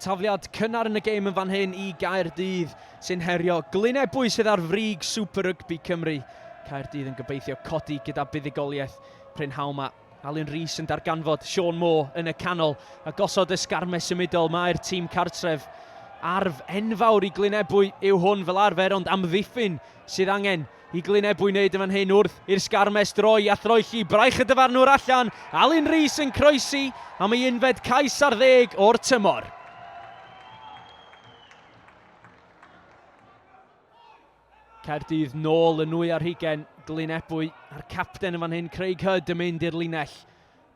Tafliad cynnar yn y gêm yn fan hyn i Gaerdydd sy'n herio Glynebwy sydd ar frig Super Rugby Cymru. Caerdydd yn gobeithio codi gyda buddugoliaeth prynhawn mae Alun Rees yn darganfod Sean Moore yn y canol a gosod ysgarmes symudol. Mae'r tîm cartref arf enfawr i Glynebwy yw hwn fel arfer ond amddiffyn sydd angen Y glyn eb wneud yn fan hyn wrth i'r Sgarmes droi a throelli braich y dyfarnwr allan, Alun Rees yn croesi am ei unfed cais ar ddeg o'r tymor. Caerdydd nôl yn nwy ar hugen Glyn Ebwy a'r capten yn fan hyn Craig Hyd yn mynd i'r linell.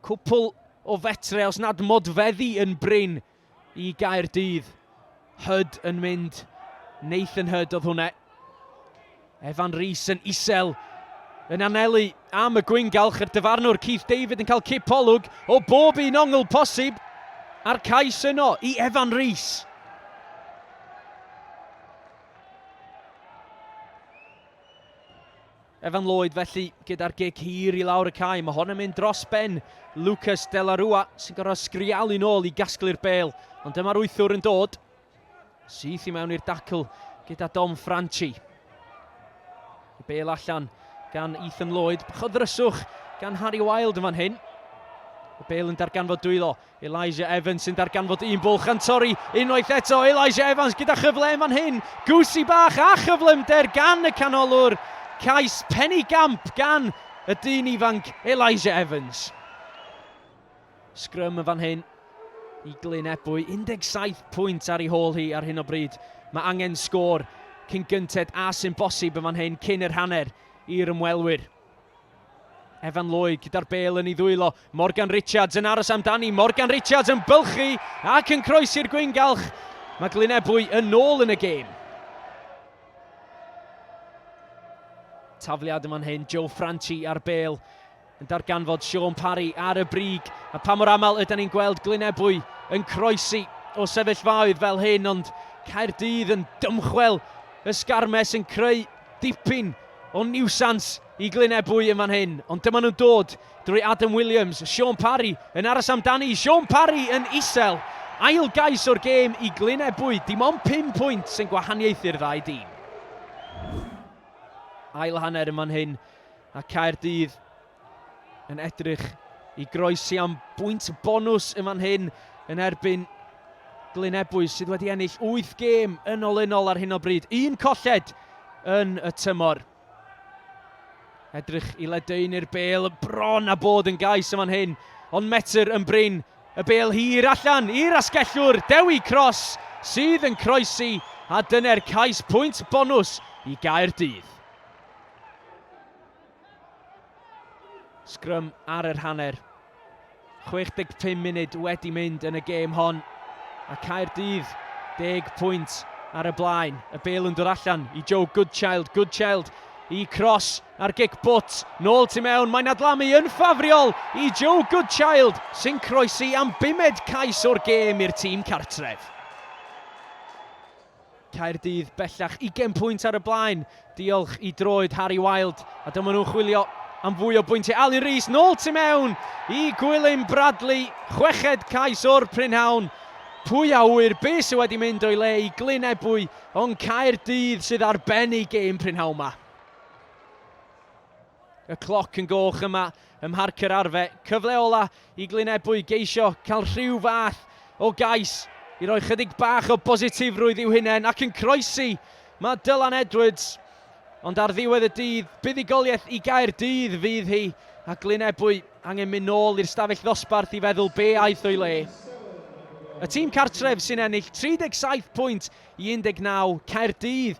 Cwpl o fetre os nad modfeddi yn brin i Gaerdydd. Hood yn mynd. Nathan Hood oedd hwnna. Evan Rees yn isel yn anelu am y gwyngalch yr dyfarnwr Keith David yn cael cip olwg o bob un ongl posib a'r cais yno i Evan Rees. Evan Lloyd felly gyda'r gig hir i lawr y cae. Mae hon yn mynd dros ben Lucas De La Rua sy'n gorfod sgrialu nôl i gasglu'r bel. Ond dyma'r wythwr yn dod. Syth i mewn i'r dacl gyda Dom Franchi. Y bel allan gan Ethan Lloyd. Bach o ddryswch gan Harry Wilde yn fan hyn. Y bel yn darganfod dwylo. Elijah Evans sy'n darganfod un bwlch gan torri unwaith eto, Elijah Evans gyda chyfle yn fan hyn, Goosey bach a chyflymder gan y canolwr, cais pennu gamp gan y dyn ifanc Elijah Evans. Sgrym yn fan hyn i Glyn Ebwy, 17 pwynt ar ei hôl hi ar hyn o bryd. Mae angen sgôr cyn gynted a sy'n bosib yn fan hyn cyn yr hanner i'r ymwelwyr. Evan Lloyd gyda'r bel yn ei ddwylo. Morgan Richards yn aros amdani. Morgan Richards yn bylchu ac yn croesi'r gwyngalch. Mae Glynebwy yn ôl yn y gêm. Tafliad yma'n hyn, Joe Franchi ar bel. Yn darganfod Sean Parry ar y brig. A pa mor aml ydyn ni'n gweld Glynebwy yn croesi o sefyllfaoedd fel hyn, ond Caerdydd yn dymchwel ysgarmes yn creu Dipyn o niwsans i Glyn Ebwy yn fan hyn, ond dyma nhw'n dod drwy Adam Williams, Shaun Parry yn aros amdani, Shaun Parry yn isel. Ail gais o'r gêm i Glyn Ebwy, dim ond 5 pwynt sy'n gwahaniaethu'r ddau dîm. Ail hanner yn fan hyn, a Caerdydd yn edrych i groesi am bwynt bonws yn fan hyn yn erbyn Glyn Ebwys sydd wedi ennill 8 gêm yn olynol ar hyn o bryd. Un colled yn y tymor. Edrych i ledaenu'r bel bron a bod yn gais yn fan hyn. Ond metr yn brin y bel hir allan i'r asgellwr Dewi Cross sydd yn croesi a dyna'r cais pwynt bonws i Gaerdydd. Sgrym ar yr hanner. 65 munud wedi mynd yn y gêm hon. A Caerdydd, deg pwynt ar y blaen. Y bel yn dod allan i Joe Goodchild. Goodchild i cros ar gic bwt. Nôl tu mewn, mae'n adlamu yn ffafriol i Joe Goodchild sy'n croesi am bumed cais o'r gêm i'r tîm cartref. Caerdydd bellach ugain pwynt ar y blaen, diolch i droed Harry Wild, a dyma nhw'n chwilio am fwy o bwyntiau. Alun Rees, nôl tu mewn i Gwilym Bradley, chweched cais o'r prynhawn. Pwy a ŵyr be sydd wedi mynd o'i le i Glyn Ebwy, ond Caerdydd sydd ar ben eu gêm prynhawn 'ma. Y cloc yn goch yma ym Mharc yr Arfe. Cyfle ola i Glynebwy geisio cael rhyw fath o gais i roi chydig bach o bositifrwydd i'w hunain ac yn croesi mae Dylan Edwards. Ond ar ddiwedd y dydd, buddugoliaeth i gair dydd fydd hi a Glynebwy angen mynd nôl i'r stafell ddosbarth i feddwl be aeth o'i le. Y tîm cartref sy'n ennill 37 pwynt i 19, Caerdydd,